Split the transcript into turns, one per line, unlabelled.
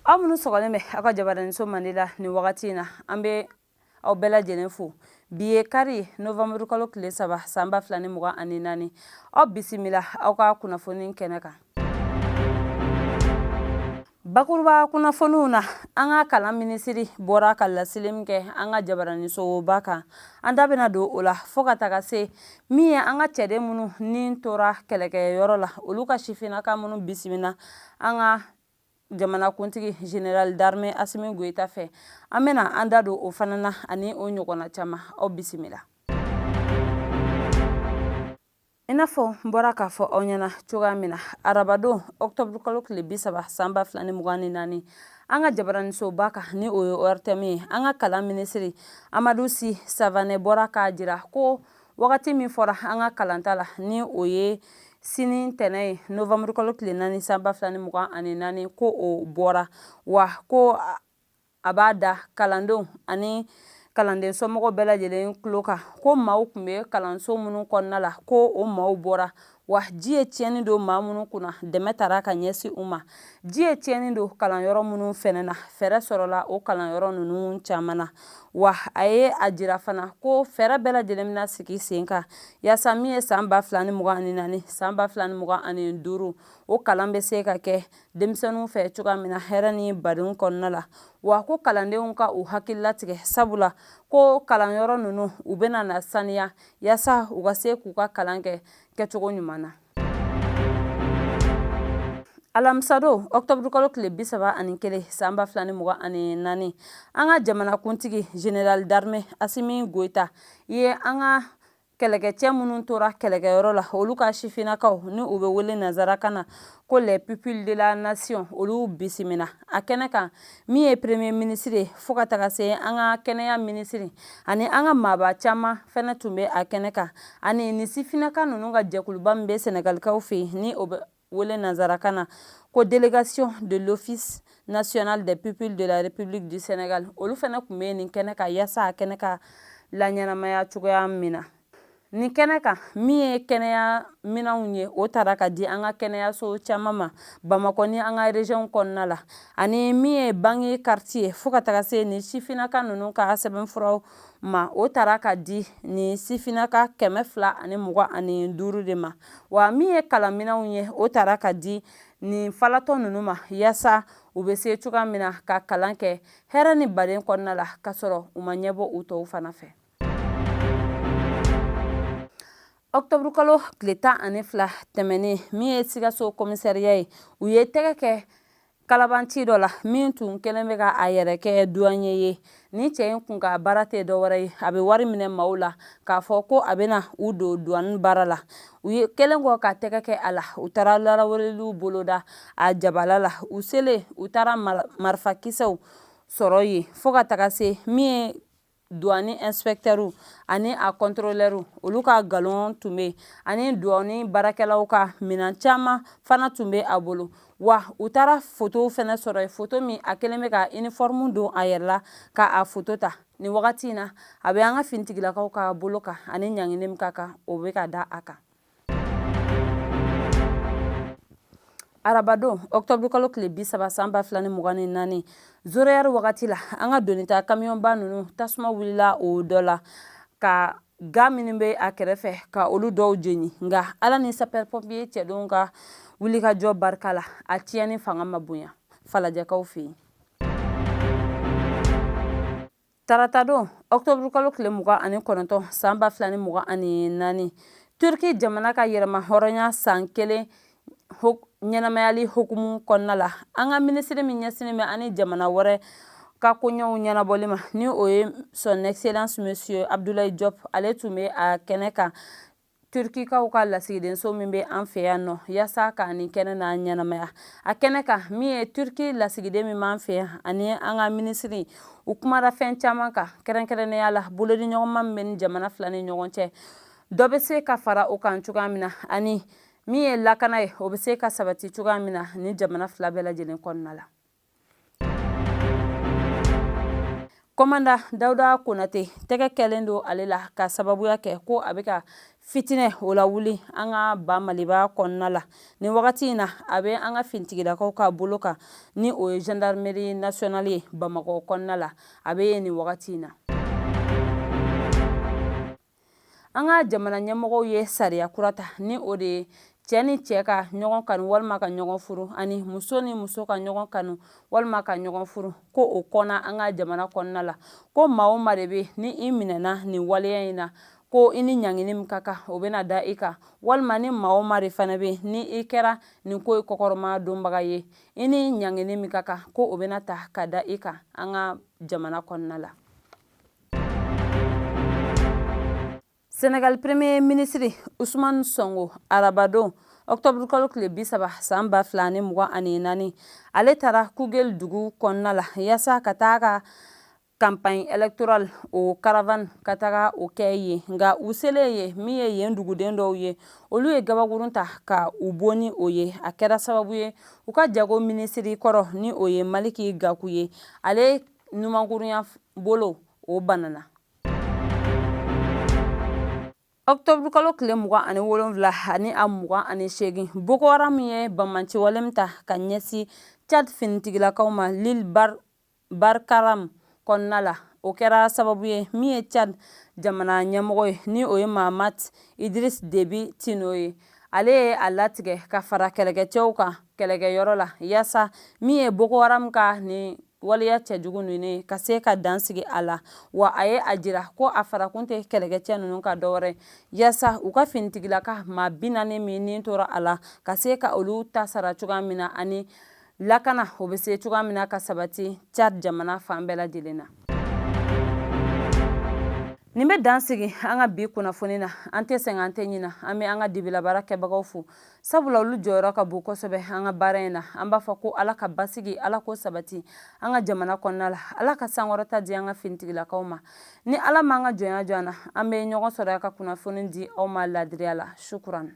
aw minnu sɔgɔlen bɛ aw ka jabaraninso mande la nin wagati in na an bɛ aw bɛɛ lajɛlen fo bi ye kari novanburukalo tile saba sanba fila ni mugan ani naani aw bisimila aw ka kunnafoni kɛnɛ kan bakuruba kunnafoniw na an ka kalan minisiri bɔra ka laseli min kɛ an ka jabaranisoba kan an da bɛna don o la fo ka taga se min ye an ka cɛden minnu ni tora kɛlɛkɛyɔrɔ la olu ka sifinnaka minnu bisimila an ka jamanakuntigi général d'armée Assimi Goïta fɛ. An bɛna an da don o fana na ani o ɲɔgɔnna caman. Aw bisimila. I n'a fɔ n bɔra k'a fɔ aw ɲɛna cogoya min na, arabadon octobre kalo tile bi saba san ba fila ni mugan ni naani, an ka jabaranisoba kan ni o ye ORTM ye, an ka kalan minisiri Amadu Si Savanɛ bɔra k'a jira ko Wagati min fɔra an ka kalanta la ni o ye sini ntɛnɛn ye novanburukalo tile naani sanba fila ni mugan ani naani ko o bɔra wa ko a b'a da kalandenw ani kalanden somɔgɔw bɛɛ lajɛlen tulo kan ko maaw tun bɛ kalanso minnu kɔnɔna la ko o maaw bɔra wa ji ye tiɲɛni don maa minnu kunna dɛmɛ taara ka ɲɛsin u ma ji ye tiɲɛni don kalanyɔrɔ minnu fɛnɛ na fɛɛrɛ sɔrɔla o kalanyɔrɔ ninnu caman na wa a ye a jira fana ko fɛɛrɛ bɛɛ lajɛlen bɛna sigi sen kan yaasa min ye san ba fila ni mugan ani naani san ba fila ni mugan ani duuru o kalan bɛ se ka kɛ denmisɛnninw fɛ cogoya min na hɛrɛ ni badenw kɔnɔna la wa ko kalandenw ka u hakili latigɛ sabula ko kalanyɔrɔ ninnu u bɛna na saniya yasa u ka se k'u ka kalan kɛ kɛcogo ɲuman na alamisadon ɔkutɔburukalo tile bi saba ani kelen sanba fila ni mugan ani naani an ka jamanakuntigi général d'armée assimi goïta ye an ka kɛlɛkɛcɛ minnu tora kɛlɛkɛyɔrɔ la olu ka sifinnakaw ni u bɛ wele nanzarakan na ko les pupilles de la nation olu bisimila a kɛnɛ kan min ye premier ministre ye fo ka taga se an ka kɛnɛya ministre ani an ka maaba caman fɛnɛ tun bɛ a kɛnɛ kan ani nin sifinnaka ninnu ka jɛkuluba min bɛ sɛnɛgalikaw fɛ yen ni o bɛ wele nanzarakan na ko délégation de l'office national des pupilles de la république du sénégal olu fɛnɛ tun bɛ nin kɛnɛ kan yasa a kɛnɛ ka laɲɛnamaya cogoya min na Nin kɛnɛ kan min ye kɛnɛya minɛnw ye o taara ka di an ka kɛnɛyaso caman ma bamakɔ ni an ka rezɔnw kɔnɔna la ani min ye bange kariti ye fo ka taga se ni sifininaka ninnu ka sɛbɛnfuraw ma o taara ka di ni sifininaka kɛmɛ fila ani mugan ani duuru de ma wa min ye kalanminɛnw ye o taara ka di nin falatɔ ninnu ma yaasa u bɛ se cogoya min na ka kalan kɛ hɛrɛ ni baden kɔnɔna la ka sɔrɔ u ma ɲɛbɔ u tɔw fana fɛ ɔkutɔburukalo tile tan ani fila tɛmɛnen min ye sikaso komisariya ye u ye tɛgɛ kɛ kalabanci dɔ la min tun kɛlen bɛ ka a yɛrɛ kɛ duwaniye ye ni cɛ in kun ka baara tɛ dɔwɛrɛ ye a bɛ wari minɛ maaw la k'a fɔ ko a bɛna u don duwani baara la u ye kɛlen kɔ ka tɛgɛ kɛ a la u taara laraweleliw boloda a jabala la u selen u taara marifakisɛw sɔrɔ yen fo ka taga se min ye Duwani ɛnsipɛkitɛri ani a kɔntorolɛri olu ka galon tun bɛ yen ani duwani baarakɛlaw ka minɛn caman fana tun bɛ a bolo wa u taara foto fana sɔrɔ yen foto min a kɛlen bɛ ka iniforimu don a yɛrɛ la k'a foto ta nin wagati in na a bɛ an ka fintigilakaw ka bolo kan ani ɲangili min ka kan o bɛ ka da a kan arabadon octobre kalo tile bi saba san ba fila ni mugan ni naani zéro heure wagati la an ka doni ta kamiyɔnba ninnu tasuma wulila o dɔ la ka ga minnu bɛ a kɛrɛfɛ ka olu dɔw jeni nka ala ni sapɛri pɔnpiye cɛdenw ka wulikajɔ barika la a tiɲɛni fanga ma bonya falajɛkaw fɛ yen Taratadon ɔkutɔburukalo tile mugan ani kɔnɔntɔn san ba fila ni mugan ani naani turki jamana ka yɛrɛmahɔrɔnya san kelen ɲɛnamayali hukumu kɔnɔna la an ka minisiri min ɲɛsinnen bɛ an ni jamana wɛrɛ ka koɲɛw ɲɛnabɔli ma ni o ye son excellence monsieur abudulayi jɔpu ale tun bɛ a kɛnɛ kan turkikaw ka lasigidenso min bɛ an fɛ yan nɔ yasa ka nin kɛnɛ n'a ɲɛnamaya a kɛnɛ kan min ye turki lasigiden min b'an fɛ yan ani an ka minisiri u kumara fɛn caman kan kɛrɛnkɛrɛnnenya la bolodiɲɔgɔnma min bɛ ni jamana fila ni ɲɔgɔn cɛ dɔ bɛ se ka fara o kan cogoya min na ani min ye lakana ye o bɛ se ka sabati cogoya min na ni jamana fila bɛɛ lajɛlen kɔnɔna la kɔmanda dawuda konate tɛgɛ kɛlen don ale la ka sababuya kɛ ko a bɛ ka fitinɛw lawuli an ka ba maliba kɔnɔna la nin wagati in na a bɛ an ka fintigilakaw ka bolo kan ni o ye gendarmerie nationale ye bamakɔ kɔnɔna la a bɛ yen nin wagati in na an ka jamana ɲɛmɔgɔw ye sariya kura ta ni o de ye cɛ ni cɛ ka ɲɔgɔn kanu walima ka ɲɔgɔn furu ani muso ni muso ka ɲɔgɔn kanu walima ka ɲɔgɔn furu ko o kɔnna an ka jamana kɔnɔna la ko maa o maa de bɛ ni i minɛna nin waleya in na ko i ni ɲangini min ka kan o bɛna da i kan walima ni maa o maa de fana bɛ ni i kɛra nin ko in kɔkɔrɔmadonbaga ye i ni ɲangini min ka kan ko o bɛna ta ka da i kan an ka jamana kɔnɔna la Senegali premier ministre Usman Sonko arabadon octobre kalo tile bi saba san ba fila ni mugan ani naani ale taara Koungheul dugu kɔnɔna la yasa ka taa ka campagne électorale o caravane ka taga o kɛ yen nka u selen ye min ye yen duguden dɔw ye olu ye gabakurun ta ka u bon ni o ye a kɛra sababu ye u ka jago minisiri kɔrɔ ni o ye maliki gaku ye ale numankurunya bolo o banana octobre kalo tile mugan ani wolonwula ani a mugan ani seegin boko haram ye banbaanciwale min ta ka ɲɛsin tchad finitigilakaw ma l'île barkaram kɔnɔna la o kɛra sababu ye min ye tchad jamana ɲɛmɔgɔ ye ni o ye mahamat idriss déby itno ye ale ye a latigɛ ka fara kɛlɛkɛcɛw kan kɛlɛkɛyɔrɔ la yaasa min ye boko haram ka nin waleya cɛjugu ninnu ka se ka dansigi a la wa a ye a jira ko a farakun tɛ kɛlɛkɛcɛ ninnu kan dɔwɛrɛ yasa u ka finitigilaka maa bi naani minnu tora a la ka se ka olu ta sara cogoya min na ani lakana o bɛ se cogoya min na ka sabati tchad jamana fan bɛɛ lajɛlen na nin bɛ dansigi an ka bi kunnafoni na an tɛ sɛgɛn an tɛ ɲina an bɛ an ka dibilabaarakɛbagaw fo sabula olu jɔyɔrɔ ka bon kosɛbɛ an ka baara in na an b'a fɔ ko ala ka basigi ala ko sabati an ka jamana kɔnɔna la ala ka sankɔrɔta di an ka finitigilakaw ma ni ala m'an ka jɔnya jɔ an na an bɛ ɲɔgɔn sɔrɔ yan ka kunnafoni di aw ma laadiriya la sukuran